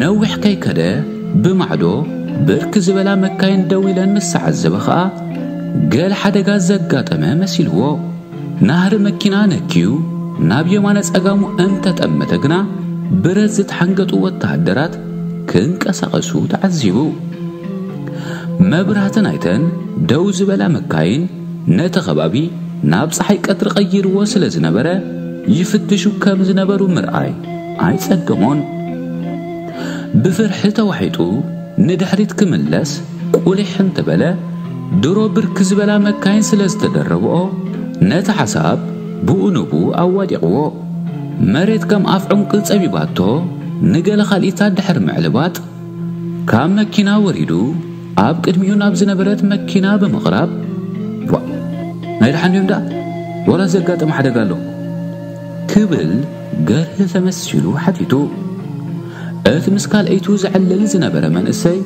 ነዊሕ ከይከደ ብማዕዶ ብርክ ዝበላ መካይን ደው ኢለን ምስ ተዓዘበ ኸኣ ገል ሓደጋ ዘጋጠመ መሲልዎ ናህሪ መኪና ነክዩ ናብ የማነ ጸጋሙ እንተጠመተ ግና ብረት ዝተሓንገጡ ወተሃደራት ክንቀሳቐሱ ተዓዚቡ። መብራህቲ ናይተን ደው ዝበላ መካይን ነቲ ከባቢ ናብ ፀሓይ ቀትሪ ቀይርዎ ስለ ዝነበረ ይፍትሹ ከም ዝነበሩ ምርኣይ ኣይጸገሞን። ብፍርሒ ተዋሒጡ ንድሕሪት ክምለስ ቁሊሕ እንተበለ፣ ድሮ ብርክ ዝበላ መካይን ስለ ዝተደረብኦ፣ ነቲ ሓሳብ ብኡ ንብኡ ኣዋዲቕዎ። መሬት ከም ኣፍ ዑንቂ ጸቢባቶ ንገለ ካልኢታት ድሕሪ ምዕልባጥ፣ ካብ መኪና ወሪዱ ኣብ ቅድሚኡ ናብ ዝነበረት መኪና ብምቕራብ፣ ዋእ ናይ ደሓን ድዮም ደኣ ዋላስ ዘጋጠመ ሓደጋ ኣሎ? ክብል ገርሂ ተመሲሉ ሓቲቱ። እቲ ምስ ካልኣይቱ ዘዕልል ዝነበረ መንእሰይ።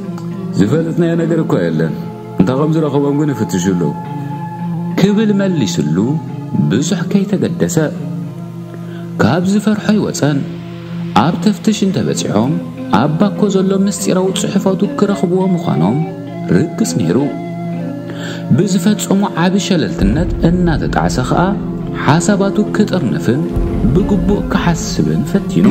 ዝፈለጥናዮ ነገር እኳ የለን፣ እንተ ኸም ዝረኸቦም ግን ይፍትሹ ኣለዉ። ክብል መሊሱሉ ብዙሕ ከይተገደሰ። ካብ ዝፈርሖ ኣይወጸን። ኣብ ተፍትሽ እንተ በጺሖም ኣብ ባኮ ዘሎ ምስጢራዊ ጽሑፋቱ ክረኽብዎ ምዃኖም። ርክስ ነይሩ። ብዝፈጸሞ ዓቢ ሸለልትነት እናተጣዕሰ ከኣ ሓሳባቱ ክጥርንፍን ብግቡእ ክሓስብን ፈቲኑ።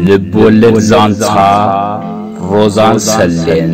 ልብ ወለድ ዛንታ ሮዛን ሰሌን።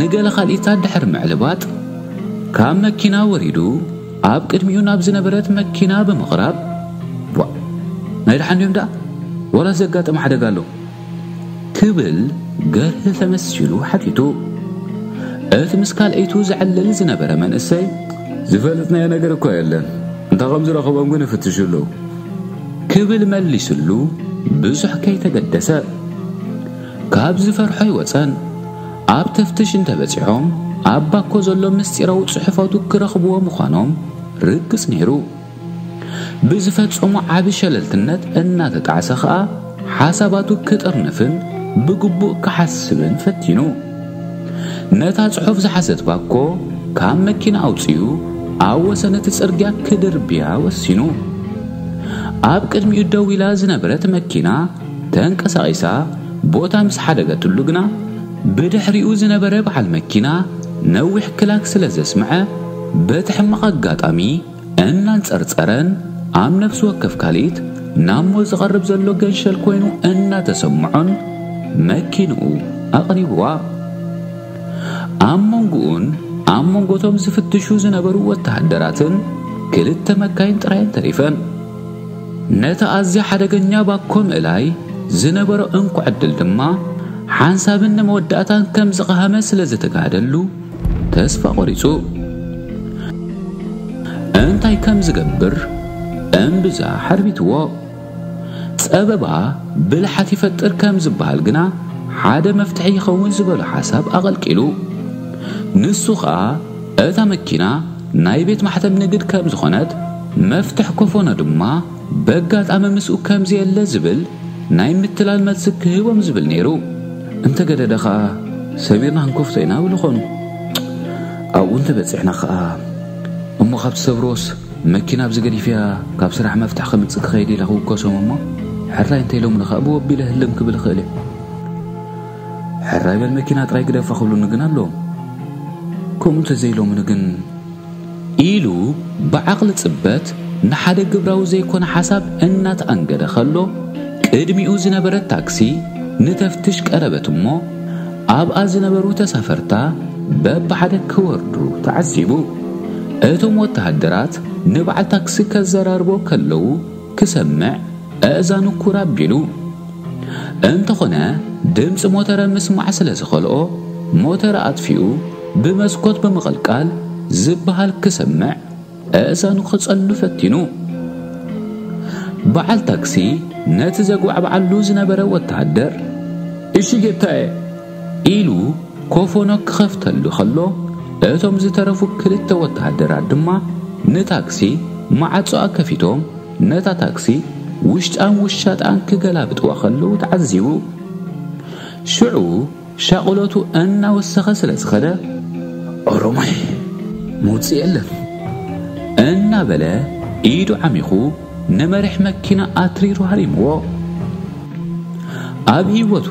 ንገለ ካልኢታት ድሕሪ ምዕልባጥ፣ ካብ መኪና ወሪዱ ኣብ ቅድሚኡ ናብ ዝነበረት መኪና ብምቕራብ፣ ዋእ! ናይ ደሓን ድዮም ደኣ? ዋላስ ዘጋጠመ ሓደጋ ኣሎ? ክብል ገርሂ ተመሲሉ ሓቲቱ። እቲ ምስ ካልኣይቱ ዘዕልል ዝነበረ መንእሰይ፣ ዝፈለጥናዮ ነገር እኳ የለን፣ እንተ ከም ዝረኽቦም ግን ይፍትሹ ኣለዉ። ክብል መሊሱሉ ብዙሕ ከይተገደሰ። ካብ ዝፈርሖ ኣይወጸን። ኣብ ተፍትሽ እንተበጺሖም ኣብ ባኮ ዘሎ ምስጢራዊ ጽሑፋቱ ክረኽብዎ ምዃኖም ርግጽ ነይሩ። ብዝፈጸሞ ዓቢ ሸለልትነት እናተጣዕሰ ከኣ ሓሳባቱ ክጥርንፍን ብግቡእ ክሓስብን ፈቲኑ። ነታ ጽሑፍ ዝሓዘት ባኮ ካብ መኪና ኣውጺኡ ኣብ ወሰን እቲ ጽርግያ ክድርብያ ወሲኑ። ኣብ ቅድሚኡ ደው ኢላ ዝነበረት መኪና ተንቀሳቒሳ ቦታ ምስ ሓደገትሉ ግና ብድሕሪኡ ዝነበረ በዓል መኪና ነዊሕ ክላክ ስለ ዘስምዐ በቲ ሕማቕ ኣጋጣሚ እናንጸርጸረን ኣብ ነፍሲ ወከፍ ካልኢት ናብ ሞት ዝቐርብ ዘሎ ገንሸል ኮይኑ እናተሰምዖን መኪንኡ ኣቕሪብዋ። ኣብ መንጎኡን ኣብ መንጎቶም ዝፍትሹ ዝነበሩ ወተሃደራትን ክልተ መካይን ጥራየን ተሪፈን። ነቲ ኣዝያ ሓደገኛ ባኮ ምእላይ ዝነበሮ እንኮ ዕድል ድማ ሓንሳብን ንመወዳእታን ከም ዝቐሃመ ስለ ዝተጋህደሉ ተስፋ ቆሪጹ እንታይ ከም ዝገብር እምብዛ ሓርቢትዎ። ጸበባ ብልሓት ይፈጥር ከም ዝበሃል ግና ሓደ መፍትሒ ይኸውን ዝበሎ ሓሳብ ኣቐልቂሉ ንሱ ኸኣ እታ መኪና ናይ ቤት ማሕተም ንግድ ከም ዝኾነት መፍትሕ ኮፎኖ ድማ በጋጣሚ ምስኡ ከምዚ የለ ዝብል ናይ ምትላል መልሲ ክህቦም ዝብል ነይሩ። እንተገደደ ከኣ ሰቢርና ክንከፍቶ ኢና እብሉ ኮኑ። ኣብኡ እንተበጺሕና ከኣ እሞ ካብ ትሰብርዎስ መኪና ኣብዚ ገዲፈያ ካብ ስራሕ መፍትሒ ከምጽእ ክኸይድ ኢለ ክውከሶም እሞ ሕራይ እንተኢሎምኒ ከኣ ብወ ኣቢለ ህልም ክብል እኽእል እየ። ሕራይ በል መኪና ጥራይ ግደፋ ክብሉኒ ግን ኣለዎም። ከምኡ እንተዘይኢሎምኒ ግን ኢሉ ብዓቕሊ ጽበት ንሓደ ግብራዊ ዘይኮነ ሓሳብ እናተኣንገደ ከሎ፣ ቅድሚኡ ዝነበረት ታክሲ ንተፍትሽ ቀረበት እሞ፣ ኣብኣ ዝነበሩ ተሳፈርታ በብሓደ ክወርዱ ተዓዚቡ። እቶም ወተሃደራት ንበዓል ታክሲ ከዘራርቦ ከለዉ፣ ክሰምዕ ኣእዛኑ ኩር ኣቢሉ። እንተኾነ ድምጺ ሞተረ ምስማዕ ስለ ዝኸልኦ ሞተረ ኣጥፊኡ ብመስኮት ብምቕልቃል ዝበሃል ክሰምዕ ኣእዛኑ ክጸሉ ፈቲኑ። በዓል ታክሲ ነቲ ዘጉባዕብዓሉ ዝነበረ ወተሃደር እሺ ጌታየ! ኢሉ ኮፎኖ ክኸፍተሉ ከሎ፣ እቶም ዝተረፉ ክልተ ወተሃደራት ድማ ንታክሲ ማዕጾኣ ከፊቶም ነታ ታክሲ ውሽጣን ውሻጣን ክገላብጥዋ ከለዉ ተዓዚቡ። ሽዑ ሻቕሎቱ እናወሰኸ ስለ ዝኸደ ኦሮማይ ምውጽእ የለን እናበለ ኢዱ ዓሚኹ ንመሪሕ መኪና ኣትሪሩ ሃሪምዎ። ኣብ ህይወቱ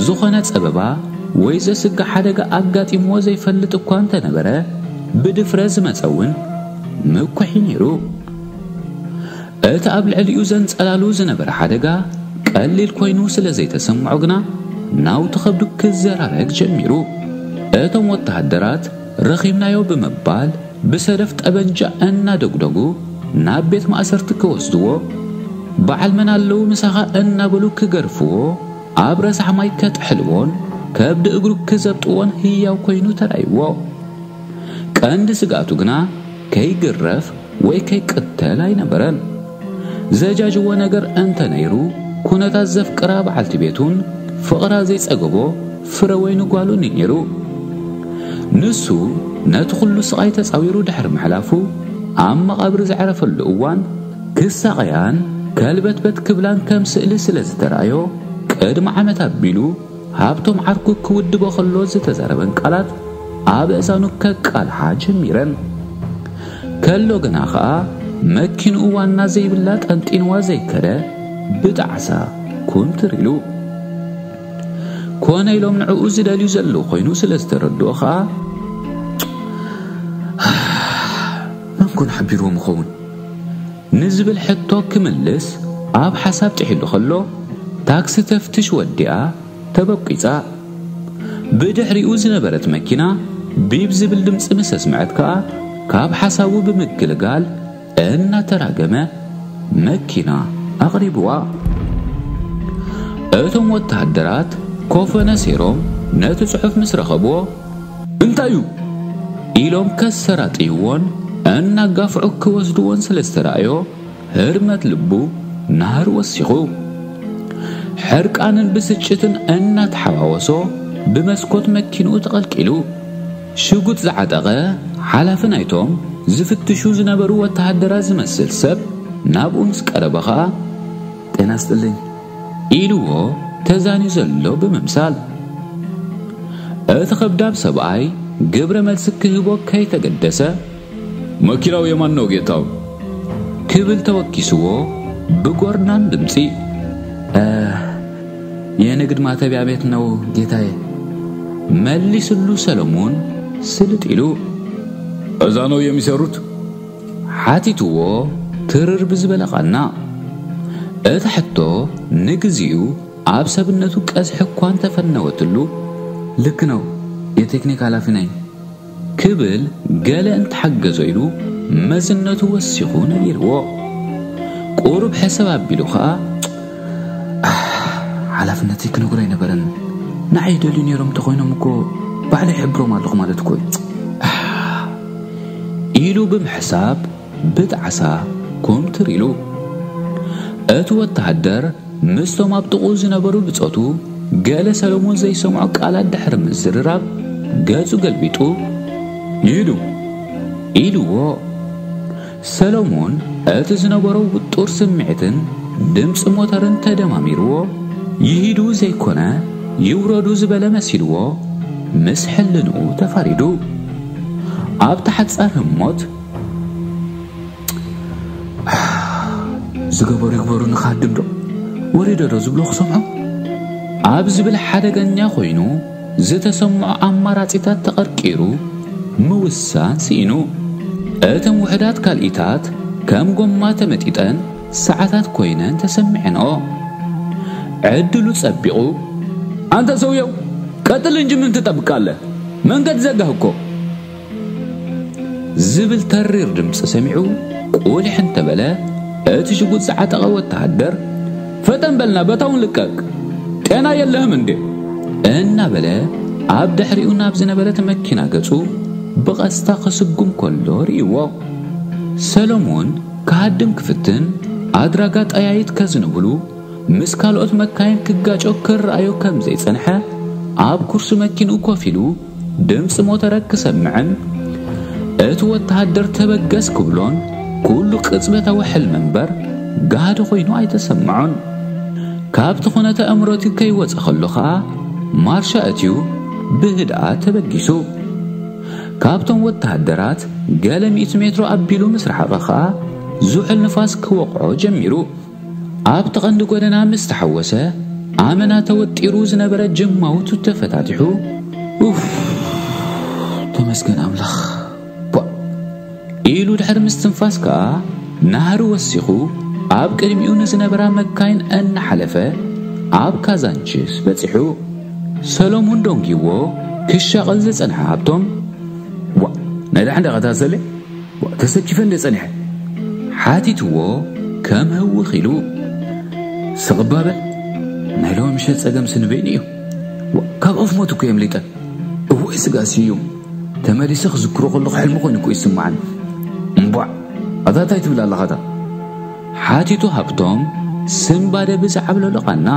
ዝኾነ ጸበባ ወይ ዘስግእ ሓደጋ ኣጋጢምዎ ዘይፈልጥ እኳ እንተነበረ፣ ብድፍረት ዝመጸ እውን ምኩሕ'ዩ ነይሩ። እቲ ኣብ ልዕሊኡ ዘንጸላሉ ዝነበረ ሓደጋ ቀሊል ኮይኑ ስለ ዘይተሰምዖ ግና ናውቲ ከብዱ ክዘራረግ ጀሚሩ። እቶም ወተሃደራት ረኺብናዮ ብምባል ብሰደፍ ጠበንጃ እናደጉደጉ ናብ ቤት ማእሰርቲ ክወስድዎ፣ በዓል መን ኣለዉ ምሳኻ እናበሉ ክገርፍዎ፣ ኣብ ረሳሕ ማይ ከጥሕልዎን ከብዲ እግሩ ክዘብጥዎን ህያው ኮይኑ ተራእይዎ። ቀንዲ ስግኣቱ ግና ከይግረፍ ወይ ከይቅተል ኣይነበረን። ዘጃጅዎ ነገር እንተ ነይሩ፣ ኩነታት ዘፍቅራ በዓልቲ ቤቱን ፍቕራ ዘይጸገቦ ፍረ ወይኒ ጓሉን እዩ ነይሩ። ንሱ ነቲ ኹሉ ስቓይ ተጻዊሩ ድሕሪ ምሕላፉ፣ ኣብ መቓብር ዘዕረፈሉ እዋን፣ ክሳቐያን ከልበትበት ክብላን ከም ስእሊ ስለ ዝተራእዮ፣ ቅድሚ ዓመት ኣቢሉ፣ ሃብቶም ዓርኩ ክውድቦ ከሎ ዝተዘረበን ቃላት ኣብ እእዛኑ ከቃልሓ ጀሚረን ከሎ ግና ኸኣ መኪንኡ ዋና ዘይብላ ጠንጢንዋ ዘይከደ ብጣዕሳ ኩምትር ኢሉ ኮነ ኢሎም ንዕኡ ዝደልዩ ዘለዉ ኮይኑ ስለ ዝተረድኦ ኸኣ መን ኮን ሓቢርዎም ይኸውን ንዝብል ሕቶ ክምልስ ኣብ ሓሳብ ጥሒሉ ከሎ፣ ታክሲ ተፍትሽ ወዲኣ ተበቊጻ። ብድሕሪኡ ዝነበረት መኪና ቢብ ዝብል ድምጺ ምስ ኣስምዐት ከኣ ካብ ሓሳቡ ብምግልጋል እናተራገመ መኪና ኣቕሪቡዋ። እቶም ወተሃደራት ኮፈነ ሴሮም ነቲ ጽሑፍ ምስ ረኸቡዎ፣ እንታይ'ዩ? ኢሎም ከሰራጥይዎን እናጋፍዑ ክወስድዎን ስለ ዝተራእዮ ህርመት ልቡ ናህሪ ወሲኹ። ሕርቃንን ብስጭትን እናተሓዋወሶ ብመስኮት መኪንኡ ተቐልቂሉ። ሽጉጥ ዝዓጠቐ ሓላፊ ናይቶም ዝፍትሹ ዝነበሩ ወተሃደራት ዝመስል ሰብ ናብኡ ምስ ቀረበ ከኣ። ጤና ይስጥልኝ! ኢልዎ ተዛንዩ ዘሎ ብምምሳል። እቲ ከብዳብ ሰብኣይ ግብረ መልሲ ክህቦ ከይተገደሰ። መኪናው የማን ነው ጌታው። ክብል ተወኪስዎ ብጎርናን ድምጺ። የንግድ ማተቢያ ቤት ነው ጌታዬ። መሊስሉ ሰለሙን ስልጥ ኢሉ። እዛ ነው የሚሰሩት? ሓቲትዎ ትርር ብዝበለ ቓና። እታ ሕቶ ንግዜኡ ኣብ ሰብነቱ ቀዝሒ እኳ እንተፈነወትሉ፣ ልክ ነው፣ የቴክኒክ ሃላፊ ነኝ፣ ክብል ገለ እንተሓገዞ ኢሉ መዝነቱ ወሲኹ ነጊርዎ። ቁሩብ ሕስብ ኣቢሉ ከኣ፣ ኣሕ! ሓላፍነተይ ክነግሮ ኣይነበረን፣ ንዓይ ይደልዩ ነይሮም እንተኾይኖም እኮ ባዕሉ ይሕብሮም ኣለኹ ማለት እኮ እዩ፣ ኣሕ! ኢሉ ብምሕሳብ ብጣዕሳ ኩምትር ኢሉ። እቲ ወተሃደር ምስቶም ኣብ ጥቕኡ ዝነበሩ ብጾቱ ገለ ሰለሙን ዘይሰምዖ ቃላት ድሕሪ ምዝርራብ ገጹ ገልቢጡ፣ ኢዱ! ኢልዎ! ሰሎሞን እቲ ዝነበሮ ውጡር ስምዒትን ድምጺ ሞተርን ተደማሚርዎ፣ ይሂዱ ዘይኮነ ይውረዱ ዝበለ መሲልዎ ምስ ሕልንኡ ተፋሪዱ። ኣብታ ሓጻር ህሞት፣ ዝገበሩ ይግበሩ ንኻድምዶ ወሪደዶ ዝብሎ ክሰምዖ ኣብ ዝብል ሓደገኛ ኮይኑ፣ ዝተሰምዖ ኣማራጺታት ተቐርቂሩ ምውሳን ስኢኑ። እተን ውሑዳት ካልኢታት ከም ጎማ ተመጢጠን ሰዓታት ኮይነን ተሰሚዐንኦ። ዕድሉ ጸቢቑ። ኣንታ ሰውየው! ቀጥል እንጂ ምን ትጠብቃለህ? መንገድ ዘጋህ እኮ! ዝብል ተሪር ድምፂ ሰሚዑ ቁሊሕ እንተበለ እቲ ሽጉጥ ዝዓጠቐ ወተሃደር ፈጠን በልና በታውን ልቀቅ ጤና የለህም እንዴ እናበለ ኣብ ድሕሪኡ ናብ ዝነበረት መኪና ገፁ ብቐስታ ክስጉም ከሎ ርእይዎ ሰሎሞን ክሃድም ክፍትን ኣድራጋ ጠያይት ከዝንብሉ ምስ ካልኦት መካይን ክጋጮ ክረኣዮ ከም ዘይጸንሐ ኣብ ኩርሲ መኪንኡ ኮፍ ኢሉ ድምጺ ሞተረ ክሰምዕን እቲ ወተሃደር ተበገስ ክብሎን ኩሉ ቅጽበታዊ ሕልሚ እምበር ጋህዲ ኮይኑ ኣይተሰምዖን። ካብቲ ኩነተ ኣእምሮቲ ከይወጸ ከሎ ከኣ ማርሻ እትዩ ብህድኣት ተበጊሱ። ካብቶም ወተሃደራት ገለ ሚእቲ ሜትሮ ኣቢሉ ምስ ረሓቐ ከኣ ዙሑል ንፋስ ክወቕዖ ጀሚሩ። ኣብቲ ቀንዲ ጎደና ምስ ተሓወሰ ኣመና ተወጢሩ ዝነበረ ጀማውቱ ተፈታቲሑ ኡፍ ተመስገን ኣምላኽ ቧእ ኢሉ ድሕሪ ምስትንፋስ ከኣ ናህሪ ወሲኹ ኣብ ቅድሚኡ ንዝነበራ መካይን እናሓለፈ ኣብ ካዛንቺስ በጺሑ ሰሎሙን ዶንጊዎ ክሻቐል ዝጸንሐ ሃብቶም ዋ ነዳሕ እንዳቐታሰለ ተሰኪፈ እንደ ጸኒሐ ሓቲትዎ ከም ህውኽ ኢሉ ስቕ እባ በል ናይ ሎሚ ምሸት ጸገም ስኒ በይኑ እዩ ካብ ኣፍ ሞት እኮ የምሊጠ እወይ ስጋ ስዩም ተመሊሰ ክዝክሮ ከለኹ ሕልሚ ኮይኑ እኮ ይስምዓኒ እምቧዕ ኣታ እንታይ ትብል ኣለኻ እታ ሓቲቱ ሃብቶም ስምባደ ብዝዓብለሎ ቓና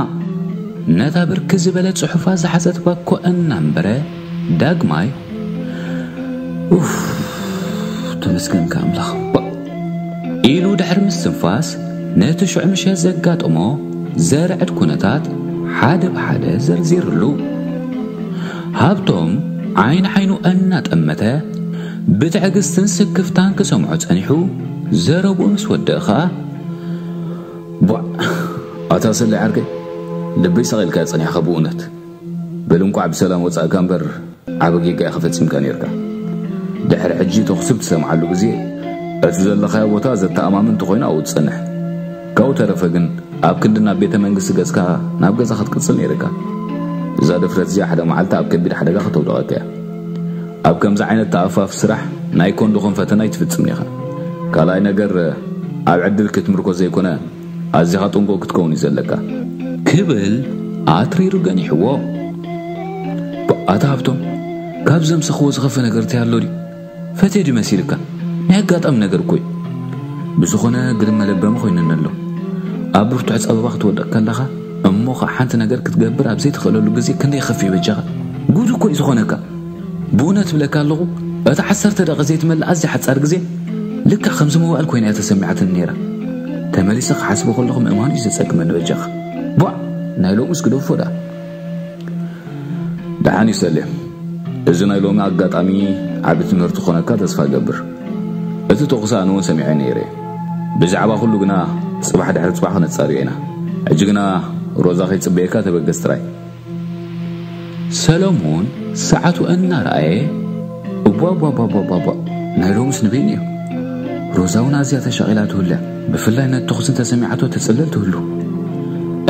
ነታ ብርክ ዝበለ ጽሑፋት ዝሓዘት ባኮ እናንበረ ዳግማይ ኡፍ ተመስገንካ ኣምላኽ ባእ ኢሉ ድሕሪ ምስትንፋስ ነቲ ሽዑ ምሸት ዘጋጠሞ ዘርዕድ ኩነታት ሓደ ብሓደ ዘርዚርሉ ሃብቶም ዓይኒ ዓይኑ እናጠመተ ብትዕግስትን ስክፍታን ክሰምዖ ጸኒሑ ዘረብኡ ምስ ወድእ ኸኣ ቧዕ ኣታ ሰለይ ዓርከይ ልበይ ሰቒልካዮ ጸኒሕኻ ብእውነት በል እንቋዕ ብሰላም ወጻእካ እምበር ዓቢ ጌጋ ኢኻ ፈጺምካ ኔርካ። ድሕሪ ሕጂ ተኹሲ ብትሰምዓሉ ግዜ እቲ ዘለኻዮ ቦታ ዘተኣማምን ተኾይኑ ኣብኡ ጽንሕ። ካብኡ ተረፈ ግን ኣብ ክንዲ ናብ ቤተ መንግስቲ ገጽካ ናብ ገዛ ክትቅጽል ኔርካ። እዛ ድፍረት እዚኣ ሓደ መዓልቲ ኣብ ከቢድ ሓደጋ ከተውድቐካ እያ። ኣብ ከምዚ ዓይነት ተኣፋፊ ስራሕ ናይ ኮንዶኾም ፈተና ኣይትፍጽምን ኢኻ። ካልኣይ ነገር ኣብ ዕድል ክትምርኮስ ዘይኮነ ኣዚኻ ጥንቁቕ ክትከውን እዩ ዘለካ። ክብል ኣትሪሩ ገኒሕዎ። ኣታ ሃብቶም ካብ ዘምሰኽዎ ዝኸፈ ነገር እንታይ ኣሎ ድዩ? ፈትየ ድዩ መሲልካ? ናይ ኣጋጣሚ ነገር እኮ እዩ። ብዝኾነ ግርም መለበሚ ኮይኑኒ ኣሎ። ኣብ ብርቱዕ ጸበባ ክትወድቕ ከለኻ እሞ ከኣ ሓንቲ ነገር ክትገብር ኣብ ዘይትኽእለሉ ግዜ ክንደይ ይኸፍእ እዩ በጃኻ? ጉድ እኮ እዩ ዝኾነካ። ብኡነት እብለካ ኣለኹ እታ ዓሰርተ ደቒቕ ዘይትመልእ ኣዝያ ሓጻር ግዜ ልክዕ ከም ዝምዋእል ኮይና እያ ተሰሚዓትኒ ነይራ። ተመሊሰ ክሓስቦ ከለኹ ምእማኑ እዩ ዘጸግመኒ በጃኻ። ቧዕ ናይ ሎምስ ግደፎ ደኣ። ደሓን እዩ ሰሌ። እዚ ናይ ሎሚ ኣጋጣሚ ዓቢ ትምህርቲ ክኾነካ ተስፋ እገብር። እቲ ተኹሲ ኣነ እውን ሰሚዐ ነይረ እየ። ብዛዕባ ኩሉ ግና ጽባሕ ድሕሪ ጽባሕ ክነጻርዮ ኢና። ሕጂ ግና ሮዛ ከይጽበየካ ተበገስ ጥራይ። ሰለሙን ሰዓቱ እናረኣየ እቧቧቧቧቧቧ ናይ ሎምስ ንበይኑ እዩ ሮዛ እውን ኣዝያ ተሻቒላ ትህሉ እያ ብፍላይ ነቲ ተኹሲ እንተሰሚዓቶ ትጽልል ትህሉ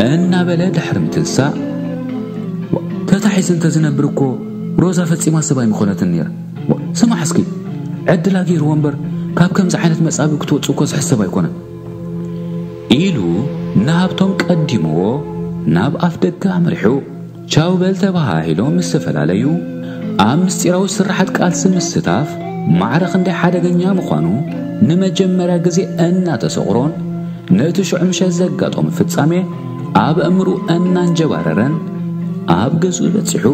እናበለ ድሕሪ ምትንሳእ ተታሒዘ እንተዝነብር እኮ ሮዛ ፈጺማ ሰብ ኣይምኾነትን ነይራ ስማዕ እስኪ ዕድላ ገይርዎ እምበር ካብ ከምዚ ዓይነት መጻቢ ክትወጽእ እኮ ዝሕሰብ ኣይኮነን ኢሉ ንሃብቶም ቀዲምዎ ናብ ኣፍ ደገ ኣምሪሑ። ቻው በል ተበሃሂሎም ምስ ተፈላለዩ፣ ኣብ ምስጢራዊ ስርሓት ቃልሲ ምስታፍ ማዕረ ክንደይ ሓደገኛ ምዃኑ ንመጀመርያ ግዜ እናተሰቑሮን ነቲ ሽዑ ምሸት ዘጋጠሞ ፍጻሜ ኣብ ኣእምርኡ እናንጀባረረን ኣብ ገዝኡ በጺሑ።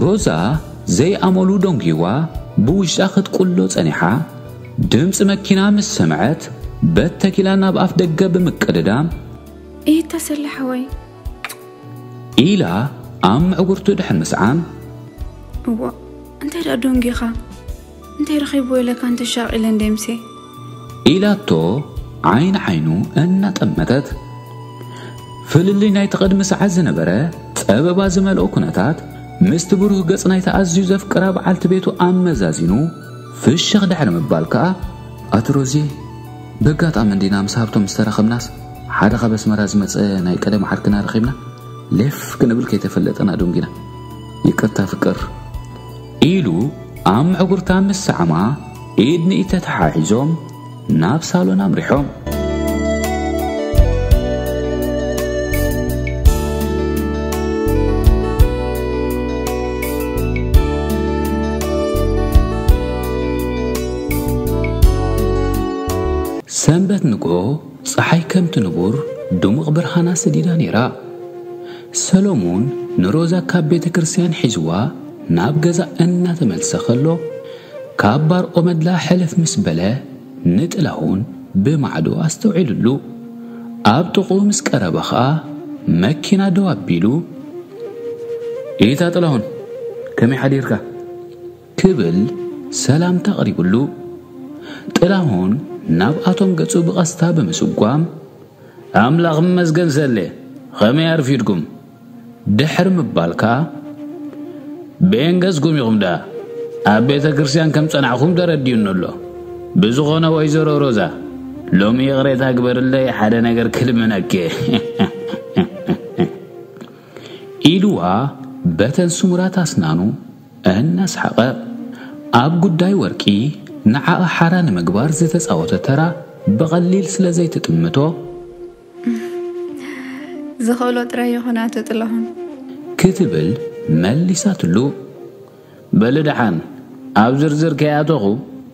ሮዛ ዘይኣመሉ ደንጒዋ ብውሽጣ ክትቁሎ ጸኒሓ ድምፂ መኪና ምስ ሰምዐት በተኪላ ናብ ኣፍ ደገ ብምቅድዳም ኢድ ተሰለ ሓወይ ኢላ ኣብ ምዕጉርቱ ድሕን ምስዓም እዎ እንታይ ደኣ ዶንጊኻ እንታይ ረኺብዎ ኢለካ እንተሻቕ ኢለ እንደ ምሴ ኢላቶ ዓይን ዓይኑ እናጠመተት ፍልልይ ናይቲ ቐድሚ ሰዓት ዝነበረ ጸበባ ዝመልኦ ኩነታት ምስቲ ብሩህ ገጽ ናይቲ ኣዝዩ ዘፍቅራ በዓልቲ ቤቱ ኣመዛዚኑ ፍሽኽ ድሕሪ ምባል ከኣ ኣቲ ሮዜ በጋጣሚ እንዲና ምስ ሃብቶም ዝተራኸብናስ ሓደ ካብ ኣስመራ ዝመጸ ናይ ቀደም ዓርክና ረኺብና ሌፍ ክንብል ከይተፈለጠና ዶንጊና ይቅርታ ፍቅር ኢሉ ኣብ ምዕጉርታ ምስ ሰዓማ ኢድ ንኢድ ተተሓሒዞም ናብ ሳሎን ኣምሪሖም ሰንበት ንግሆ ጸሓይ ከምቲ ንቡር ድሙቕ ብርሃና ሰዲዳ ነይራ። ሰሎሙን ንሮዛ ካብ ቤተ ክርስቲያን ሒዝዋ ናብ ገዛ እናተመልሰ ከሎ ካብ ባር ኦመድላ ሕልፍ ምስ በለ ንጥላሁን ብማዕዶ ኣስተውዒሉሉ። ኣብ ጥቕኡ ምስ ቀረበ ኸኣ መኪና ደው ኣቢሉ ኢታ ጥላሁን ከመይ ሓዲርካ? ክብል ሰላምታ ኣቕሪቡሉ፣ ጥላሁን ናብ ኣቶም ገጹ ብቐስታ ብምስጓም፣ ኣምላኽ ይመስገን ሰሌ፣ ኸመይ ኣርፊድኩም? ድሕሪ ምባል ከኣ፣ በየን ገጽኩም ኢኹም ደኣ ኣብ ቤተ ክርስቲያን ከም ጸናዕኩም ተረዲኡኒ ኣሎ። ብዝኾነ ወይዘሮ ሮዛ፣ ሎሚ ይቕሬታ ግበርለይ ሓደ ነገር ክልምነኪ ኢልዋ በተን ስሙራት ኣስናኑ እናስሓቐ፣ ኣብ ጉዳይ ወርቂ ንዓኣ ሓራ ንምግባር ዝተጻወቶ ተራ ብቐሊል ስለ ዘይትጥምቶ። ዝኽእሎ ጥራይ ይኹን ኣቶ ጥላሁን። ክትብል መሊሳትሉ። በሊ ደሓን ኣብ ዝርዝር ከይኣተኹ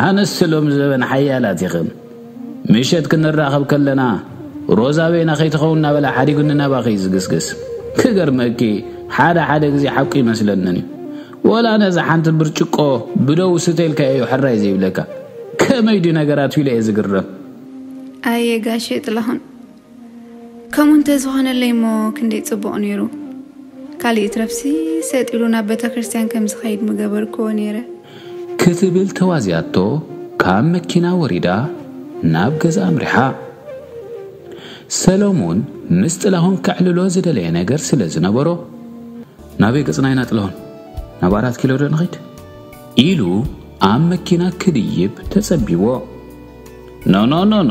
ኣንስቲ ሎሚ ዘበን ሓያላት ኢኽን። ምሸት ክንራኸብ ከለና ሮዛ በይና ከይትኸውን እናበለ ሓዲጉኒ ናባኺ እዩ ዝግስግስ። ክገርመኪ ሓደ ሓደ ግዜ ሓቁ ይመስለንን እዩ። ወላ ነዛ ሓንቲ ብርጭቆ ብደው ስተይልካ እዩ ሕራይ ዘይብለካ። ከመይ ድዩ ነገራት ኢለ እየ ዝግረም። ኣየ ጋሼ ጥላሁን ከምኡ እንተዝኾነለይ እሞ ክንደይ ጽቡቕ ነይሩ። ካልእ ይትረፍሲ ሰጥ ኢሉ ናብ ቤተክርስትያን ከም ዝኸይድ ምገበርክዎ ነይረ። ክትብል ተዋዚኣቶ ካብ መኪና ወሪዳ ናብ ገዝኣ ኣምሪሓ። ሰለሙን ምስ ጥላሁን ከዕልሎ ዝደለየ ነገር ስለ ዝነበሮ ናበይ ገጽና ኢና ጥላሁን ናብ ኣራት ኪሎ ዶ ንኺድ ኢሉ ኣብ መኪና ክድይብ ተጸቢዎ ኖኖኖኖ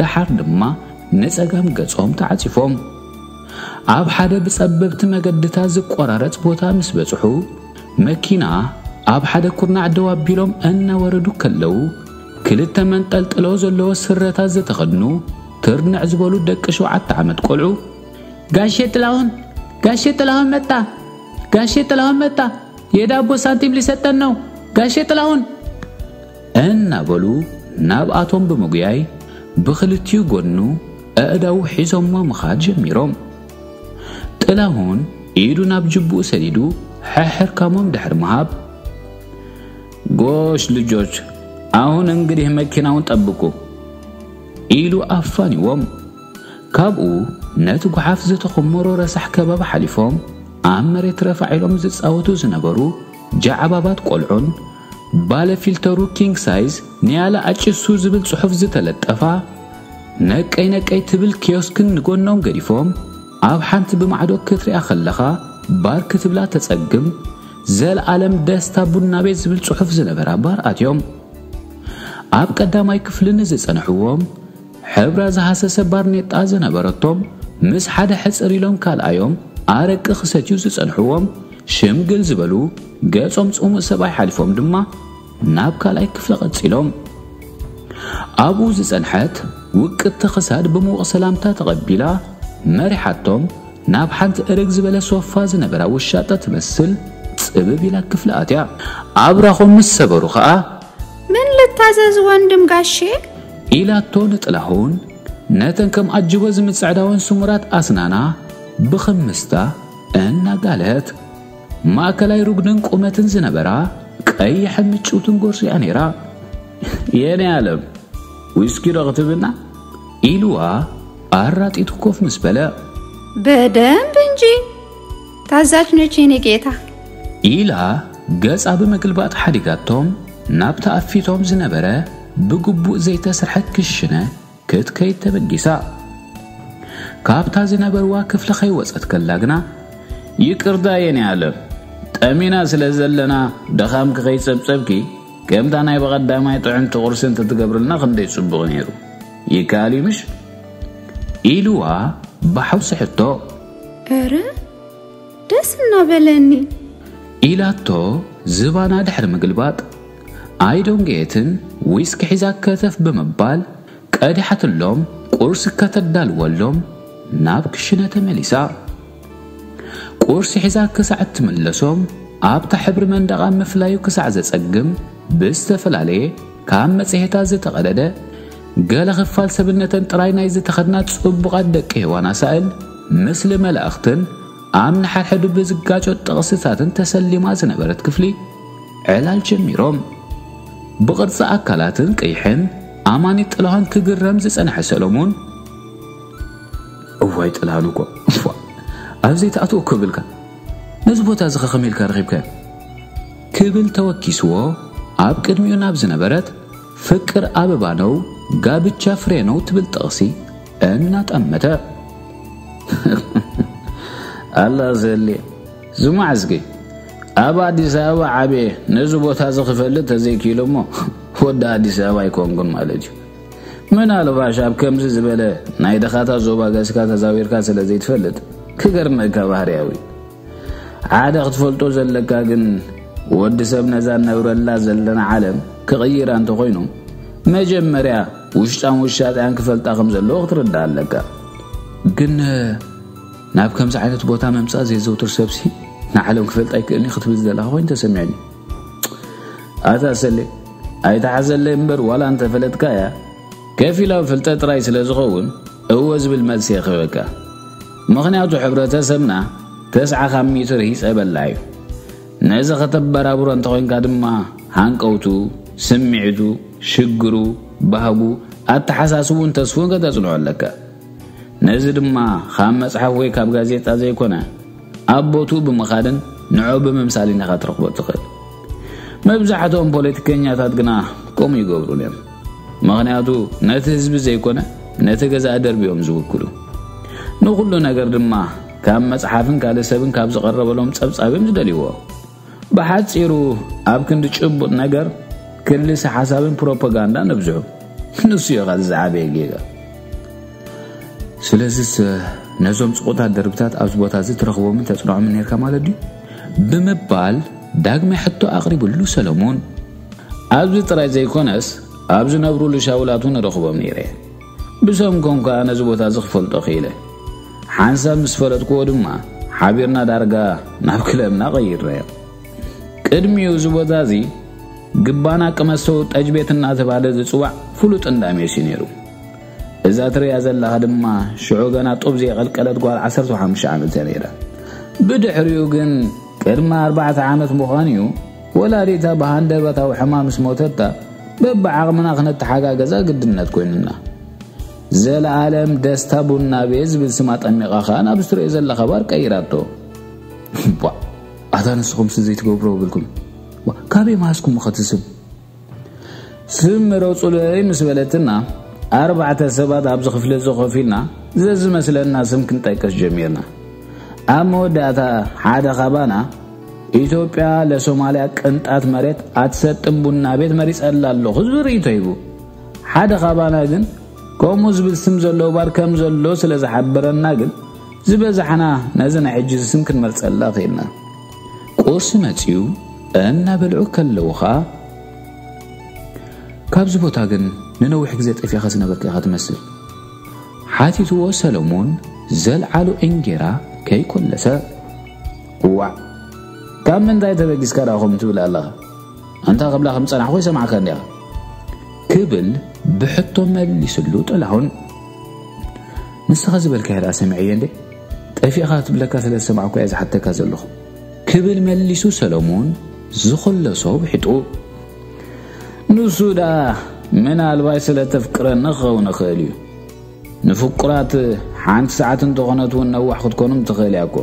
ደሓር ድማ ንጸጋም ገጾም ተዓጺፎም ኣብ ሓደ ብጸበብቲ መገድታት ዝቆራረጽ ቦታ ምስ በጽሑ መኪና ኣብ ሓደ ኩርናዕ ደው ኣቢሎም እናወረዱ ከለዉ ክልተ መንጠልጥሎ ዘለዎ ስረታት ዝተኸድኑ ትርንዕ ዝበሉ ደቂ ሸውዓተ ዓመት ቆልዑ ጋሼ ጥላሁን ጋሼ ጥላሁን መጣ ጋሼ ጥላሁን መጣ የዳቦ ሳንቲም ሊሰጠን ነው ጋሼ ጥላሁን እናበሉ ናብኣቶም ብምጉያይ ብኽልቲኡ ጎድኑ ኣእዳዉ ሒዞሞ ምኻድ ጀሚሮም። ጥላሁን ኢዱ ናብ ጅብኡ ሰዲዱ ሕሕርካሞም ድሕሪ ምሃብ ጎሽ ልጆች ኣሁን እንግዲህ መኪናውን ጠብቁ ኢሉ ኣፋኒዎም። ካብኡ ነቲ ጓሓፍ ዝተኾመሮ ረሳሕ ከባቢ ሓሊፎም ኣብ መሬት ረፋዕ ኢሎም ዝጻወቱ ዝነበሩ ጃዕባባት ቆልዑን ባለ ፊልተሩ ኪንግ ሳይዝ ንያላ ኣጭሱ ዝብል ጽሑፍ ዝተለጠፋ ነቀይ ነቀይ ትብል ኪዮስክን ንጎኖም ገዲፎም ኣብ ሓንቲ ብማዕዶ ክትሪኣ ከለኻ ባር ክትብላ ተጸግም ዘልኣለም ደስታ ቡና ቤት ዝብል ጽሑፍ ዝነበራ ባር ኣትዮም ኣብ ቀዳማይ ክፍሊ ንዝጸንሕዎም ሕብራ ዝሃሰሰ ባርኔጣ ዝነበረቶም ምስ ሓደ ሕጽር ኢሎም ካልኣዮም ኣረቂ ክሰትዩ ዝጸንሕዎም ሽምግል ዝበሉ ገጾም ጽሙእ ሰብኣይ ሓሊፎም ድማ ናብ ካልኣይ ክፍሊ ቀጺሎም ኣብኡ ዝጸንሐት ውቅጥቲ ክሳድ ብምውቕ ሰላምታ ተቐቢላ መሪሓቶም ናብ ሓንቲ እርግ ዝበለ ሶፋ ዝነበራ ውሻጠ ትመስል ጽብብ ኢላ ክፍሊ ኣትያ ኣብራኾም ምስ ሰበሩ ኸኣ ምን ልታዘዝ ወንድም ጋሼ? ኢላቶ ንጥላሁን ነተን ከም ኣጅቦ ዝምጽዕዳወን ስሙራት ኣስናና ብኽምስታ እናጋለህት። ማእከላይ ሩግንን ቁመትን ዝነበራ ቀይሕን ምጭውትን ጎርዞ'ያ ነይራ። የኔ ኣለም ዊስኪ ዶ ክትብልና? ኢሉዋ ኣራጢቱ ኮፍ ምስ በለ። በደንብ እንጂ! ታዛዥ ነች የኔ ጌታ። ኢላ ገጻ ብምግልባጥ ሓዲጋቶም ናብ ተኣፊቶም ዝነበረ ብግቡእ ዘይተስርሐ ክሽነ ክትከይድ ተበጊሳ። ካብታ ዝነበርዋ ክፍሊ ከይወጸት ከላ ግና። ይቅርታ የኔ ኣለም ጠሚና ስለ ዘለና ድኻምኪ ከይጸብጸብኪ ከምታ ናይ ብቐዳማይ ጥዕምቲ ቁርሲ እንተትገብርልና ክንደይ ጽቡቕ ነይሩ። ይከኣል እዩ ምሽ? ኢልዋ ብሓውሲ ሕቶ። እረ ደስ እናበለኒ ኢላቶ ዝባና ድሕሪ ምግልባጥ ኣይዶንገየትን ዊስኪ ሒዛ ከተፍ ብምባል ቀዲሓትሎም ቁርሲ ከተዳልወሎም ናብ ክሽነ ተመሊሳ ቁርሲ ሒዛ ክሳዕ እትምለሶም ኣብታ ሕብሪ መንደቓ ምፍላዩ ክሳዕ ዘጸግም ብዝተፈላለየ ካብ መጽሔታት ዝተቐደደ ገለ ክፋል ሰብነተን ጥራይ ናይ ዝተኸድና ጽቡቓት ደቂ ሔዋን ኣሳእል ምስሊ መላእኽትን ኣብ ንሓድሕዱ ብዝጋጮ ጥቕስታትን ተሰሊማ ዝነበረት ክፍሊ ዕላል ጀሚሮም ብቕርጺ ኣካላትን ቀይሕን ኣማኒ ጥላሃን ክግረም ዝጸንሐ ሰሎሞን እዋይ ጥላሃን እኮ ኣብዘይ ተኣትዎ ክብልካ ነዚ ቦታ እዚ ከኸመ ኢልካ ረኺብካዮ ክብል ተወኪስዎ ኣብ ቅድሚኡ ናብ ዝነበረት ፍቅር ኣበባ ነው ጋብቻ ፍሬ ነው ትብል ጥቕሲ እናጠመተ ኣላ ዘሌ ዝማዕዝጊ ኣብ ኣዲስ ኣበባ ዓብየ ነዚ ቦታ እዚ ክፈልጥ ተዘይክኢሉ እሞ ወዲ ኣዲስ ኣበባ ኣይኮንኩን ማለት እዩ ምናልባሽ ኣብ ከምዚ ዝበለ ናይ ደኻታት ዞባ ገስካ ተዛዊርካ ስለ ዘይትፈልጥ ክገርመካ ባህርያዊ ሓደ ክትፈልጦ ዘለካ ግን ወዲ ሰብ ነዛ ነብረላ ዘለና ዓለም ክቕይራ እንተኾይኑ መጀመርያ ውሽጣን ውሻጢኣን ክፈልጣ ከም ዘለዎ ክትርዳእ ኣለካ ግን ናብ ከምዚ ዓይነት ቦታ ምምፃእ ዘየዘውትር ሰብሲ ንዓለም ክፈልጥ ኣይክእልኒ ክትብል ዘለካ ኮይኑ ተሰሚዕኒ ኣታ ሰለ ኣይተሓዘለይ እምበር ዋላ እንተፈለጥካ እያ ከፊላዊ ፍልጠት ጥራይ ስለ ዝኸውን እወ ዝብል መልሲ የኸበካ ምኽንያቱ ሕብረተሰብና ተስዓ ካብ ሚእቲ ርሂጸ በላ እዩ። ነዚ ከተበራብሮ እንተኾይንካ ድማ ሃንቀውቱ፣ ስምዒቱ፣ ሽግሩ፣ ባህጉ፣ ኣተሓሳስብኡን ተስፉን ከተጽንዖ ኣለካ። ነዚ ድማ ካብ መጽሓፍ ወይ ካብ ጋዜጣ ዘይኮነ ኣብ ቦትኡ ብምኻድን ንዕኡ ብምምሳልን ኢኻ ትረኽቦ እትኽእል። መብዛሕትኦም ፖለቲከኛታት ግና ከምኡ ይገብሩን እዮም። ምኽንያቱ ነቲ ህዝቢ ዘይኮነ ነቲ ገዛእ ደርቢ እዮም ዝውክሉ። ንኹሉ ነገር ድማ ካብ መጽሓፍን ካልእ ሰብን ካብ ዝቐረበሎም ጸብጻብ እዮም ዝደልይዎ። ብሓጺሩ ኣብ ክንዲ ጭቡጥ ነገር ክልሰ ሓሳብን ፕሮፓጋንዳ ነብዝሑ ንሱ እዩ ኸዚ ዝዓበየ ጌጋ ስለዚስ ነዞም ጽቁታት ደርብታት ኣብዚ ቦታ እዚ ትረኽቦምን ተጽንዖምን ነርካ ማለት ድዩ ብምባል ዳግመ ሕቶ ኣቕሪብሉ ሰለሞን ኣብዚ ጥራይ ዘይኮነስ ኣብ ዝነብሩሉ ሻውላት እውን እረኽቦም ነይረ። ብሰም ኮም ከኣ ነዚ ቦታ እዚ ክፈልጦ ክኢለ። ሓንሳብ ምስ ፈለጥክዎ ድማ ሓቢርና ዳርጋ ናብ ክለብና ቀይርናዮ። ቅድሚኡ እዚ ቦታ እዚ ግባና ቅመሰው ጠጅ ቤት እናተባህለ ዝጽዋዕ ፍሉጥ እንዳ ሜስ እዩ ነይሩ። እዛ ትርያ ዘለኻ ድማ ሽዑ ገና ጡብ ዘየቐልቀለት ጓል 15 ዓመት እያ ነይራ። ብድሕሪኡ ግን ቅድሚ ኣርባዕተ ዓመት ምዃኑ እዩ ወላዲታ ብሃንደበታዊ ሕማም ምስ ሞተታ በብዓቕምና ክነተሓጋገዛ ግድነት ኮይኑና። ዘለኣለም ደስታ ቡና ቤት ዝብል ስም ኣጠሚቓ ከኣ ናብ ዝትርእዮ ዘለኻ ባር ቀይራቶ። እባ ኣታ ንስኹምሲ ዘይትገብሮ ብልኩም ካበይ መሃዝኩም ኸትስም ስም ምረጹለይ ምስ በለትና፣ ኣርባዕተ ሰባት ኣብዚ ክፍሊ'ዚ ኮፍ ኢልና ዘዝመስለና ስም ክንጠቅስ ጀሚርና። ኣብ መወዳእታ ሓደ ካባና፣ ኢትዮጵያ ለሶማልያ ቅንጣት መሬት ኣትሰጥም ቡና ቤት መሪጸላ ኣለኹ ዝብል ርእይቶ ሂቡ። ሓደ ካባና ግን ከምኡ ዝብል ስም ዘለዎ ባር ከም ዘሎ ስለ ዝሓበረና ግን ዝበዛሕና ነዚ ናይ ሕጂዚ ስም ክንመርጸላ ክኢልና። ቁርሲ መጺኡ እናበልዑ ከለዉ ኸኣ ካብዚ ቦታ ግን ንነዊሕ ግዜ ጠፊኻ ዝነበርካ ኢኻ ትመስል ሓቲትዎ ሰለሙን ዘልዓሉ እንጌራ ከይኮለሰ ዋዕ ካብ ምንታይ ተበጊስካ ደኣ ከምኡ ትብል ኣለኻ ኣንታ ክብላ ከም ጸናሕኩ ይሰምዓካ እንዲኻ ክብል ብሕቶ መሊስሉ ጥላሁን ንስኻ ዝበልካዮ ደኣ ሰሚዐዮ እንዴ ጠፊእኻ ክትብለካ ስለ ዝሰማዕኩ እየ ዝሓተካ ዘለኹ ክብል መሊሱ ሰለሙን ዝኽለሶ ውሒጡ ንሱ ደኣ ምናልባይ ስለ ተፍቅረኒ ክኸውን ይኽእል እዩ ንፍቁራት ሓንቲ ሰዓት እንተኾነት እውን ነዋሕ ክትኮኑም ትኽእል እያ እኮ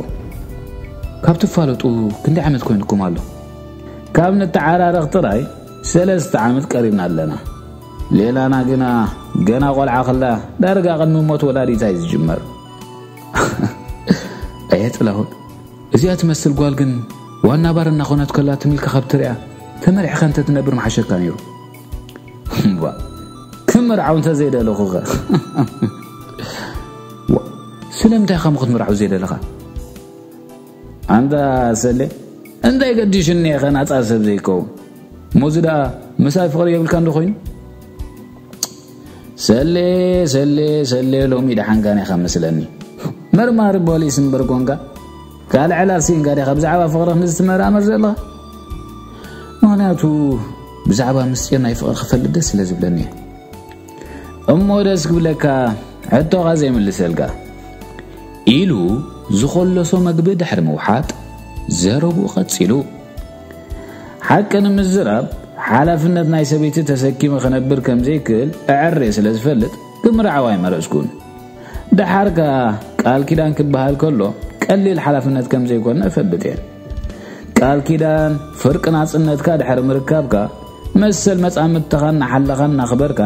ካብ ትፋለጡ ክንደይ ዓመት ኮይንኩም ኣሎ ካብ ንተዓራረኽ ጥራይ ሰለስተ ዓመት ቀሪብና ኣለና ሌላና ግና ገና ቆልዓ ከላ ዳርጋ ቅድሚ ሞት ወላዲታ እዩ ዝጅመር ኣየ ጥላሁን እዚኣ ትመስል ጓል ግን ዋና ባር እናኾነት ከላ ትምልኪ ካብ ትሪያ ተመሪሕካ እንተ ትነብር መሓሸካ ነይሩ እባ ክምርዓው እንተ ዘይደለኹኸ ስለምንታይ ከም ክትምርዓው ዘይደለኻ ኣንታ ሰሌ እንታይ ገዲሽኒ ኢኸ ናጻ ሰብ ዘይከውን ሞዚ ደኣ ምሳይ ፍቕሪ የብልካ እንዶ ኮይኑ ሰሌ ሰሌ ሰሌ ሎሚ ደሓንካ ኒኻ መስለኒ መርማሪ ፖሊስ እምበር ኮንካ ካልዕ ዕላል ስኢንካ ዲኻ ብዛዕባ ፍቕሪ ክንዚ ትመራመር ዘለኻ ምክንያቱ ብዛዕባ ምስጢር ናይ ፍቕሪ ክፈልጥ ደስ ስለ ዝብለኒ እየ እሞ ደስ ክብለካ ሕቶኻ ዘይምልሰልካ ኢሉ ዝኾለሶ መግቢ ድሕሪ ምውሓጥ ዘረብኡ ቀጺሉ ሓቂ ንምዝራብ ሓላፍነት ናይ ሰበይቲ ተሰኪመ ክነብር ከም ዘይክእል እዕሬ ስለ ዝፈልጥ ክምርዓው ኣይመረጽኩን ደሓር ከኣ ቃል ኪዳን ክበሃል ከሎ ቀሊል ሓላፍነት ከም ዘይኮነ እፈልጥ እየ ቃል ኪዳን ፍርቂ ናጽነትካ ድሕሪ ምርካብካ መሰል መጻምድትኻ እናሓለኻ እናኽበርካ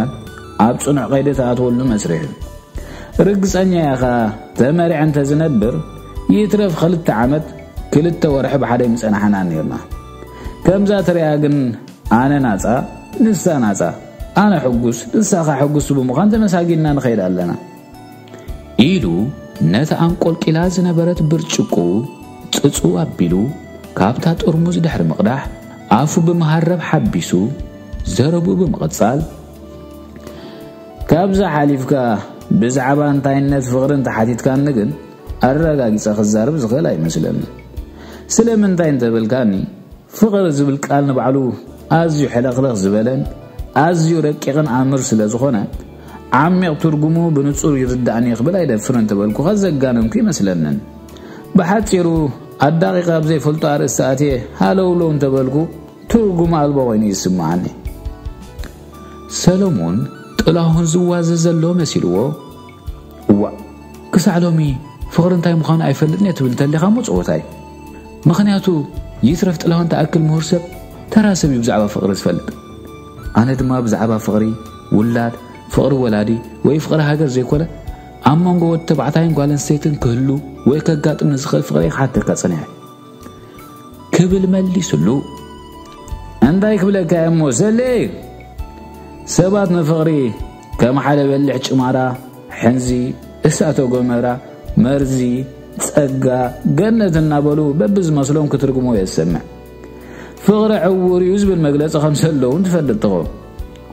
ኣብ ጽኑዕ ቀይዲ ትኣትወሉ መስርሕ እዩ። ርግጸኛ እየ ኸኣ ተመሪዐ እንተ ዝነብር ይትረፍ ኽልተ ዓመት ክልተ ወርሒ ብሓደ ኣይምጸናሕናን ኔርና። ከምዛ ትርእያ ግን ኣነ ናጻ ንሳ ናጻ ኣነ ሕጉስ ንሳ ኸኣ ሕጉስቲ ብምዃን ተመሳጊንና ንኸይድ ኣለና። ኢሉ ነታ ኣንቆልቂላ ዝነበረት ብርጭቆኡ ጽጹ ኣቢሉ ካብታ ጥርሙዝ ድሕሪ ምቕዳሕ ኣፉ ብመሃረብ ሓቢሱ ዘረብኡ ብምቕጻል ካብዛ ሓሊፍካ ብዛዕባ እንታይነት ፍቕሪ እንተሓቲትካኒ ግን ኣረጋጊጸ ክዛርብ ዝኽእል ኣይመስለኒ ስለምንታይ እንተበልካኒ ፍቕሪ ዝብል ቃል ንባዕሉ ኣዝዩ ሕለኽለኽ ዝበለን ኣዝዩ ረቂቕን ኣምር ስለ ዝኾነ ዓሚቕ ትርጉሙ ብንጹር ይርዳእኒ ክብል ኣይደፍርን እንተበልኩኻ ዘጋነንኩ ኣይመስለንን። ብሓጺሩ ኣዳቒቐ ኣብ ዘይፈልጦ ኣርእስቲ ኣትየ ሃለውለው እንተበልኩ ትርጉም ኣልቦ ኮይኑ ይስምዓኒ። ሰለሙን ጥላሁን ዝዋዘ ዘሎ መሲልዎ እዋእ ክሳዕ ሎሚ ፍቕሪ እንታይ ምዃኑ ኣይፈልጥን እየ ትብል እንተሊኻ እሞ ጸወታ እዩ። ምኽንያቱ ይትረፍ ጥላሁን ተኣክል ምሁር ሰብ ተራ ሰብ እዩ ብዛዕባ ፍቕሪ ዝፈልጥ። ኣነ ድማ ብዛዕባ ፍቕሪ ውላድ፣ ፍቕሪ ወላዲ ወይ ፍቕሪ ሃገር ዘይኮነ፣ ኣብ መንጎ ወዲ ተባዕታይን ጓል ኣንስተይትን ክህሉ ወይ ከጋጥም ንዝኽእል ፍቕሪ ክሓተካ ጸኒሐ። ክብል መሊስሉ። እንታይ ክብለካ እየ እሞ ሰሌ፣ ሰባት ንፍቕሪ ከም ሓደ በሊሕ ጭማራ፣ ሕንዚ፣ እሳተ ጎመራ፣ መርዚ፣ ጸጋ፣ ገነት እናበሉ በብዝመስሎም ክትርጉሞ እየ ዝሰምዕ። ፍቕሪ ዕዉር እዩ ዝብል መግለፂ ከም ዘሎ እውን ትፈልጥ ትኸውን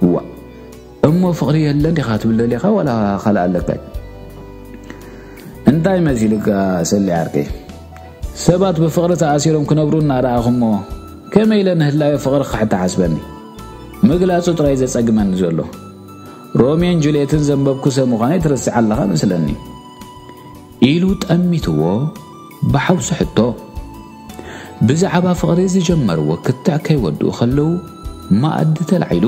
እዋ እሞ ፍቕሪ የለን ዲኻ ትብል ደሊኻ ዋላ ካልእ ኣለካ እንታይ መሲልካ ሰሊ ዓርቂ ሰባት ብፍቕሪ ተኣሲሮም ክነብሩ እናረኣኹሞ ከመይ ኢለ ንህላዮ ፍቕሪ ክሕተሓስበኒ ምግላፁ ጥራይ ዘፀግመኒ ዘሎ ሮሜን ጁልየትን ዘንበብኩ ሰብ ምዃነይ ትርስዕ ኣለኻ መስለኒ ኢሉ ጠሚትዎ ብሓውሲ ሕቶ ብዛዕባ ፍቕሪ ዝጀመርዎ ክትዕ ከይወድኡ ከለዉ መኣዲ ተላዒሉ።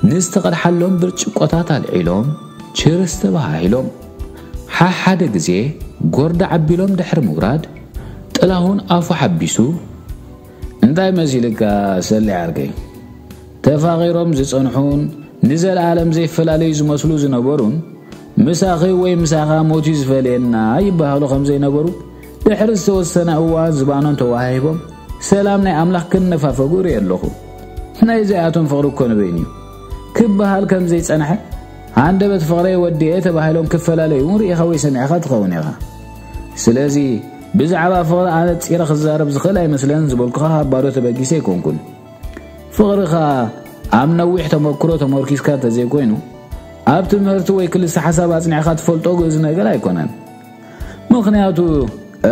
ንዝተቐድሓሎም ብርጭቆታት ኣልዒሎም ቺርስ ተበሃሂሎም። ሓሓደ ግዜ ጎርዳ ዓቢሎም ድሕሪ ምውራድ ጥላሁን ኣፉ ሓቢሱ፣ እንታይ መሲልካ ሰሌ ዓርከይ፣ ተፋቒሮም ዝጸንሑን ንዘለኣለም ዘይፈላለዩ ዝመስሉ ዝነበሩን፣ ምሳኺ ወይ ምሳኻ ሞት'ዩ ዝፈልየና ይበሃሉ ከም ዘይነበሩ፣ ድሕሪ ዝተወሰነ እዋን ዝባኖም ተወሃሂቦም ሰላም ናይ ኣምላኽ ክነፋፈጉ እርእየ ኣሎኹ። ናይዚኣቶም ፍቕሪ እኮ ንበይኑ'ዩ ክበሃል ከም ዘይጸንሐ፣ ሃንደበት ፍቕረይ ወዲኤ ተባሂሎም ክፈላለዩ'ውን ርኢኻ ወይ ሰሚዕኻ ትኸውን ኢኻ። ስለዚ ብዛዕባ ፍቕሪ ኣነጺረ ክዛረብ ዝኽእል ኣይመስለንን ዝበልኩኻ ካብ ባዶ ተበጊሰ ኣይኮንኩን። ፍቕሪ ከኣ ኣብ ነዊሕ ተመክሮ ተመርኲስካ እንተዘይኮይኑ፣ ኣብ ትምህርቲ ወይ ክልሰ-ሓሳብ ኣጽኒዕካ ትፈልጦ ግእዝ ነገር ኣይኮነን። ምኽንያቱ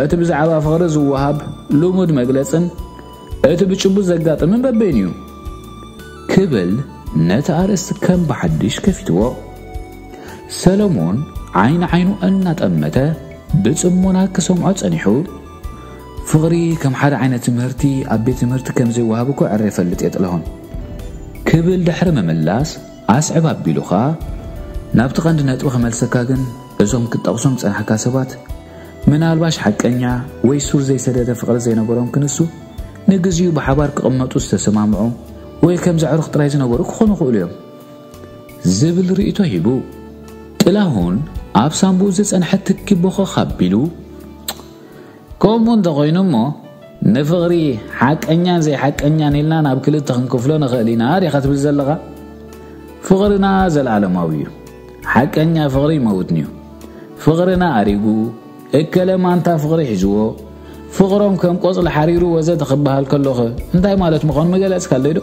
እቲ ብዛዕባ ፍቕሪ ዝወሃብ ልሙድ መግለጽን እቲ ብጭቡጥ ዘጋጥምን በበይኑ እዩ። ክብል ነቲ ኣርእስቲ ከም ብሓድሽ ከፊትዎ። ሰለሙን ዓይኒ ዓይኑ እናጠመተ ብጽሞና ክሰምዖ ጸኒሑ። ፍቕሪ ከም ሓደ ዓይነት ትምህርቲ ኣብ ቤት ትምህርቲ ከም ዘይወሃብ እኮ ዕረ ይፈልጥ እየ ጥላሁን። ክብል ድሕሪ ምምላስ ኣስዕብ ኣቢሉካ ናብቲ ቀንዲ ነጥቢ ክመልሰካ ግን እዞም ክትጠቕሶም ዝጸናሕካ ሰባት ምናልባሽ ሓቀኛ ወይ ሱር ዘይሰደደ ፍቕሪ ዘይነበሮም ክንሱ ንግዚኡ ብሓባር ክቕመጡ ዝተሰማምዑ ወይ ከም ዘዕሩኽ ጥራይ ዝነበሩ ክኾኑ ይኽእሉ እዮም ዝብል ርእይቶ ሂቡ። ጥላሁን ኣብ ሳንቡኡ ዝጸንሐ ትኪ ቦኸኽ ኣቢሉ ከምኡ እንተኾይኑ እሞ ንፍቕሪ ሓቀኛን ዘይሓቀኛን ኢልና ናብ ክልተ ክንክፍሎ ንኽእል ኢና ዲኻ ትብል ዘለኻ? ፍቕርና ዘለኣለማዊ እዩ። ሓቀኛ ፍቕሪ ይመውትንዩ። ፍቕርና ኣሪጉ፣ እከለ ማንታ ፍቕሪ ሒዝዎ፣ ፍቕሮም ከም ቆጽሊ ሓሪሩ ወዘተ ክበሃል ከሎኸ እንታይ ማለት ምዃኑ ምገለጽካለይዶ?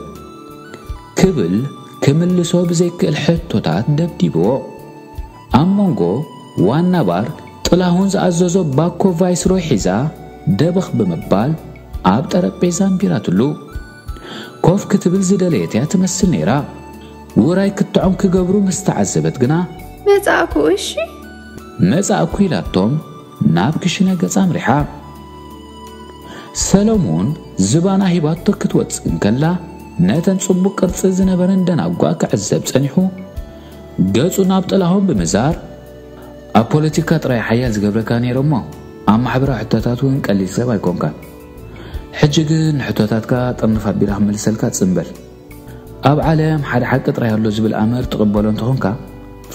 ክብል ክምልሶ ብዘይክእል ሕቶታት ደብዲብዎ። ኣብ ሞንጎ ዋና ባር ጥላሁን ዝኣዘዞ ባኮ ቫይስሮይ ሒዛ ደበኽ ብምባል ኣብ ጠረጴዛ ኣንቢራትሉ ኮፍ ክትብል ዝደለየት'ያ ትመስል ነይራ። ውራይ ክትዖም ክገብሩ ምስ ተዓዘበት ግና። መጻእኩ እሺ። መጻእኩ ኢላቶም ናብ ክሽነ ገጻ ኣምሪሓ። ሰለሙን ዝባና ሂባቶ ክትወጽእ እንከላ ነተን ጽቡቕ ቅርጺ ዝነበረን ደናጉኣ ክዕዘብ ጸኒሑ። ገጹ ናብ ጥላሁን ብምዛር፣ ኣብ ፖለቲካ ጥራይ ሓያል ዝገብረካ ነይረ እሞ ኣብ ማሕበራዊ ሕቶታት እውን ቀሊል ሰብ ኣይኮንካን። ሕጂ ግን ንሕቶታትካ ጥርንፍ ኣቢላ ክምልሰልካ ጽን በል። ኣብ ዓለም ሓደ ሓቂ ጥራይ ኣሎ ዝብል ኣምር ትቕበሎ እንተኾንካ፣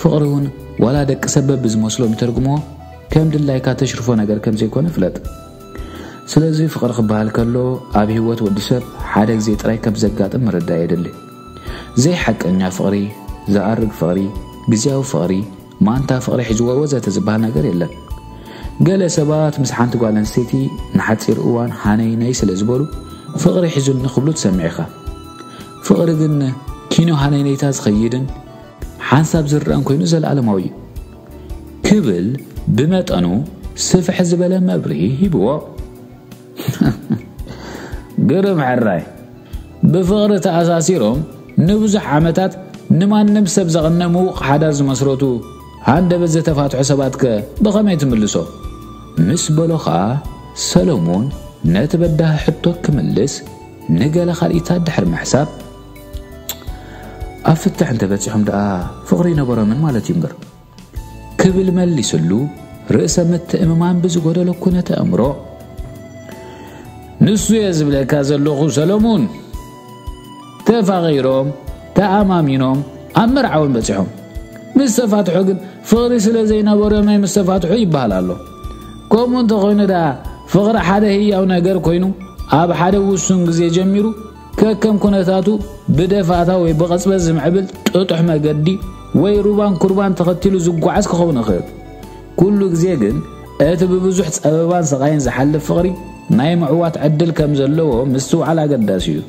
ፍቕሪ እውን ዋላ ደቂ ሰብ በብዝመስሎም ይተርጉምዎ ከም ድላይካ ተሽርፎ ነገር ከም ዘይኮነ ፍለጥ። ስለዚ ፍቕሪ ክበሃል ከሎ ኣብ ህይወት ወዲ ሰብ ሓደ ግዜ ጥራይ ከም ዘጋጥም ምርዳእ የድሊ። ዘይሓቀኛ ፍቕሪ፣ ዝኣርግ ፍቕሪ፣ ግዝያዊ ፍቕሪ፣ ማንታ ፍቕሪ ሒዝዎ ወዘተ ዝበሃል ነገር የለን። ገለ ሰባት ምስ ሓንቲ ጓል ኣንስተይቲ ንሓጺር እዋን ሃነይነይ ስለ ዝበሉ ፍቕሪ ሒዙኒ ክብሉ ትሰምዕ ኢኻ። ፍቕሪ ግን ኪኖ ሃነይነይታ ዝኸይድን ሓንሳብ ዝርኣን ኮይኑ ዘለኣለማዊ እዩ ክብል ብመጠኑ ስፍሕ ዝበለ መብርሂ ሂብዎ። ግርም ሕራይ ብፍቕሪ ተኣሳሲሮም ንብዙሕ ዓመታት ንማንም ሰብ ዘቕነ ምዉቕ ሓዳር ዝመስረቱ ሃንደበት ዘተፋትሑ ሰባትከ ብኸመይ ትምልሶ ምስ በሎ ኸኣ ሰለሙን ነቲ በዳህ ሕቶ ክምልስ ንገለ ካልኢታት ድሕሪ ምሕሳብ ኣብ ፍትሕ እንተበጺሖም ደኣ ፍቕሪ ይነበሮምን ማለት እዩ እምበር ክብል መሊስሉ ርእሰ ምትእምማን ብዝጎደሎ ኩነተ እምሮ ንሱ እየ ዝብለካ ዘለኹ ሰለሙን ተፋቒሮም ተኣማሚኖም ኣብ መርዓውን በፂሖም ምስ ተፋትሖ ግን ፍቕሪ ስለ ዘይነበሮም ናይ ምስ ተፋትሑ ይበሃል ኣሎ ከምኡ እንተኾይኑ ደኣ ፍቕሪ ሓደ ህያው ነገር ኮይኑ ኣብ ሓደ ውሱን ግዜ ጀሚሩ ከከም ኩነታቱ ብደፋታ ወይ ብቐጽበት ዝምዕብል ጥጡሕ መገዲ ወይ ሩባን ኩርባን ተኸቲሉ ዝጓዓዝ ክኸውን ይኽእል። ኩሉ ግዜ ግን እቲ ብብዙሕ ጸበባን ስቓይን ዝሓልፍ ፍቕሪ ናይ ምዕዋት ዕድል ከም ዘለዎ ምስትውዓል ኣገዳሲ እዩ።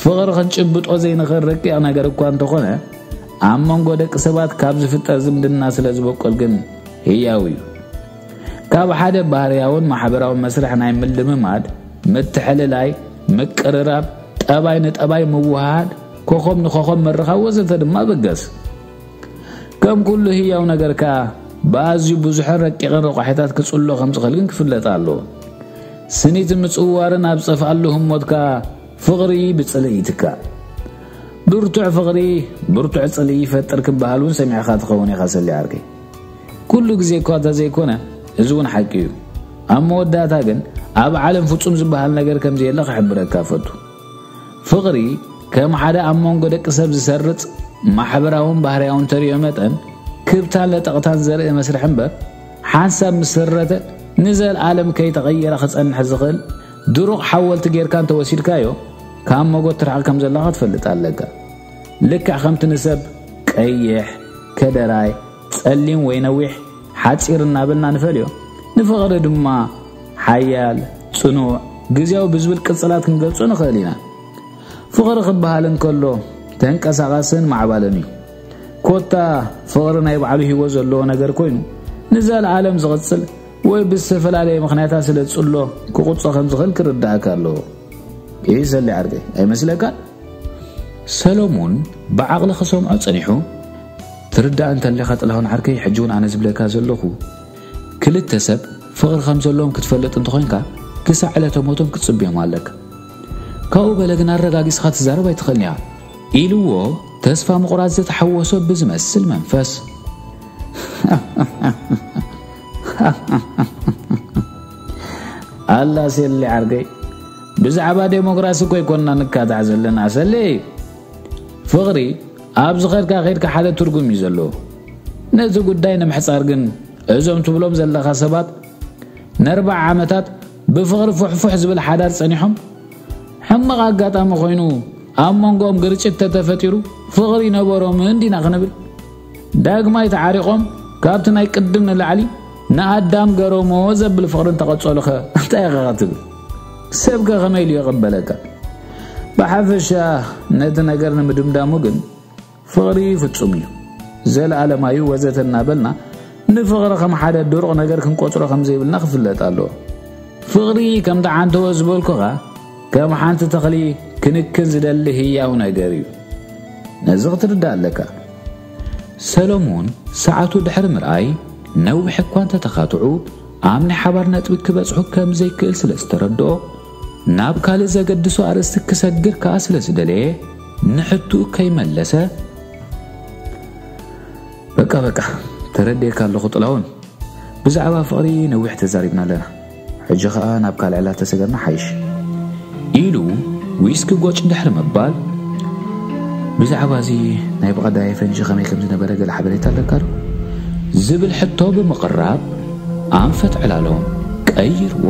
ፍቕሪ ክንጭብጦ ዘይንኽእል ረቂቕ ነገር እኳ እንተኾነ ኣብ መንጎ ደቂ ሰባት ካብ ዝፍጠር ዝምድና ስለ ዝበቆል ግን ህያው እዩ። ካብ ሓደ ባህርያውን ማሕበራዊ መስርሕ ናይ ምልምማድ፣ ምትሕልላይ፣ ምቅርራብ፣ ጠባይ ንጠባይ ምውሃሃድ፣ ኮኸም ንኮኸም ምርኻብ ወዘተ ድማ በገስ። ከም ኩሉ ህያው ነገር ከኣ ብኣዝዩ ብዙሕን ረቂቕን ረቋሒታት ክጽሎ ከም ዝኽእል ግን ክፍለጥ ኣለዎ። ስኒት ምጽዋርን ኣብ ጸፍኣሉ ህሞት ከኣ ፍቕሪ ብጽልኢ ይትካእ። ብርቱዕ ፍቕሪ ብርቱዕ ጽልኢ ይፈጥር ክበሃል እውን ሰሚዕካ ትኸውን ኢኻ ሰሊ ዓርከይ። ኩሉ ግዜ እኳ እንተዘይኮነ እዚ እውን ሓቂ እዩ። ኣብ መወዳእታ ግን ኣብ ዓለም ፍጹም ዝበሃል ነገር ከም ዘየለ ክሕብረካ እፈቱ። ፍቕሪ ከም ሓደ ኣብ መንጎ ደቂ ሰብ ዝሰርጽ ማሕበራውን ባህርያውን ተርእዮ መጠን ክብታን ለጠቕታን ዘርኢ መስርሕ እምበር ሓንሳብ ምስ ስረተ ንዘልኣለም ከይተቐየረ ክጸንሕ ዝኽእል ድሩቕ ሓወልቲ ጌርካ እንተወሲድካዮ ካብ መጎት ትርሕቕ ከም ዘለኻ ትፈልጥ ኣለካ ልክዕ ከምቲ ንሰብ ቀይሕ ከደራይ፣ ጸሊም ወይ ነዊሕ፣ ሓጺር እናበልና ንፈልዮ። ንፍቕሪ ድማ ሓያል፣ ጽኑዕ፣ ግዝያዊ ብዝብል ቅጽላት ክንገልጾ ንኽእል ኢና። ፍቕሪ ክበሃል እንከሎ ተንቀሳቓስን ማዕባልን እዩ። ኮታ ፍቕሪ ናይ ባዕሉ ህይወት ዘለዎ ነገር ኮይኑ ንዘለዓለም ዝቕጽል ወይ ብዝተፈላለየ ምኽንያታት ስለ ዝጽሎ ክቑጾ ከም ዝኽእል ክርዳእካ ኣለዎ። ይህ ሰሊ ዓርገ ኣይመስለካን? ሰለሙን ብዓቕሊ ክሰምዖ ጸኒሑ፣ ትርዳእ እንተለኻ ጥላሁን ዓርከይ ሕጂ ውን ኣነ ዝብለካ ዘለኹ ክልተ ሰብ ፍቕሪ ከም ዘለዎም ክትፈልጥ እንተኾይንካ ክሳዕ ዕለተ ሞቶም ክትጽብዮም ኣለካ ካብኡ በለ ግን ኣረጋጊጽኻ ትዛረብ ኣይትኽእልን ኢኻ ኢልዎ ተስፋ ምቑራጽ ዝተሓወሶ ብዝመስል መንፈስ ኣላ ሴሊ ዓርገይ ብዛዕባ ዴሞክራሲ እኮ ኣይኮንና ንካታዕ ዘለና ሰሌ ፍቅሪ ኣብ ዝከድካ ከድካ ሓደ ትርጉም እዩ ዘለዎ ነዚ ጉዳይ ንምሕጻር ግን እዞም ትብሎም ዘለካ ሰባት ነርባዓ ዓመታት ብፍቅሪ ፉሕፉሕ ዝብል ሓዳር ጸኒሖም ሕማቅ ኣጋጣሚ ኮይኑ ኣብ መንጎኦም ግርጭት ተተፈጢሩ ፍቅሪ ነበሮም እንዲና ክንብል ዳግማይ ተዓሪቆም ካብቲ ናይ ቅድም ንላዕሊ ንኣዳም ገረሞ ዘብል ፍቅሪ እንተቀጸሉኸ እንታይ ኢኻ ክትብል ሰብ ከ ከመይ ኢሉ ይቕበለካ? ብሓፈሻ ነቲ ነገር ንምድምዳሙ ግን ፍቕሪ ፍጹም እዩ፣ ዘለኣለማዊ እዩ ወዘተ እናበልና ንፍቕሪ ከም ሓደ ድሩቕ ነገር ክንቆጽሮ ከም ዘይብልና ክፍለጥ ኣለዎ። ፍቕሪ ከም ተዓንተወ ዝበልኩኻ ከም ሓንቲ ተኽሊ ክንክን ዝደሊ ህያው ነገር እዩ። ነዚ ክትርዳእ ኣለካ። ሰሎሞን ሰዓቱ ድሕሪ ምርኣይ ነዊሕ እኳ እንተ ተኻትዑ ኣብ ናይ ሓባር ነጥቢ ክበጽሑ ከም ዘይክእል ስለ ዝተረድኦ፣ ናብ ካልእ ዘገድሶ ኣርእስቲ ክሰግር ከኣ ስለ ዝደለየ፣ ንሕትኡ ከይመለሰ፣ በቃ በቃ ተረዲኤካ ኣለኹ ጥላሁን፣ ብዛዕባ ፍቕሪ ነዊሕ ተዛሪብና ኣለና፣ ሕጂ ከኣ ናብ ካልዕ ላተሰገርና ሓይሽ። ኢሉ ዊስኪ ጎጭ ድሕሪ ምባል፣ ብዛዕባ'ዚ ናይ ብቐዳየ ፈንጂ ከመይ ከም ዝነበረ ገለ ሓበሬታ ኣለካዶ? ዝብል ሕቶ ብምቕራብ ኣንፈት ዕላሎም ቀይርዎ።